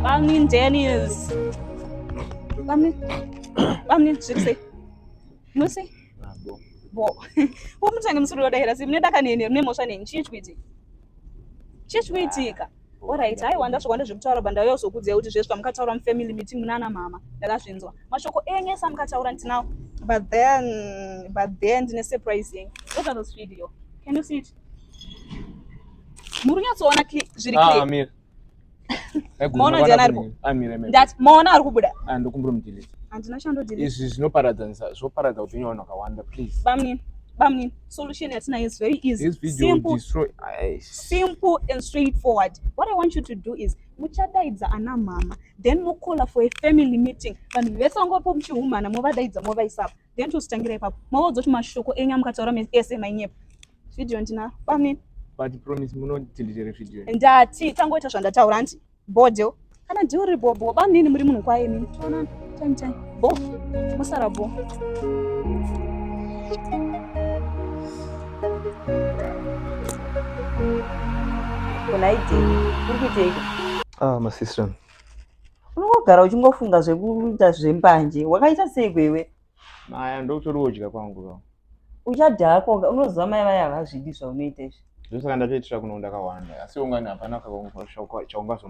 Bamnin Daniels. Bamnin. Bamnin, je sais. Moi aussi. Ah bon. Bon. Umu tange musuru wadahera simu nedaka nene mune mosha neni chii chikuitika? Chii chikuitika? Alright, haiwa ndasvika ndazvikutaura banda uya uzokudzai kuti zvesva mukataura mufamily meeting munana mama ndakazvinzwa. Mashoko enyu esa mukataura ndinawo. But then but then ndine surprise yenyu. Look at this video. Can you see it? muri nyatsoona zviri ah, maona ari kubuda ah, ndokumbira mudhilisi handina chandodhilisi izvi zvinoparadanisa zvoparadza upenyu vanhu vakawanda please bamnini bamnini solution yatinayo is very easy simple, simple and straightforward what i want you to do is muchadaidza ana mama then mocaller for a family meeting vanhu vese vangopo muchihumana movadaidza movaisapo then tositangira ipapo maodzoti mashoko enyu amukataura ese mainyepo video ndina bamnini but promise munotindichere video ndati tangoita zvandataura hanti bodyo kana ndiwo riri bobo bamnini muri munhu kwaye mini toona time time bo musara bo kunaidei uri kuiteiko ah masister unongogara uchingofunga zvekuita zvembanje wakaita sei kwewe maya ndokutori wodya kwangu ka uchadya hako unoziva mai vaya havazvidi zvaunoita izvi zvosaka ndatoitira kuno ndakawanda asi ungani hapana chaungazom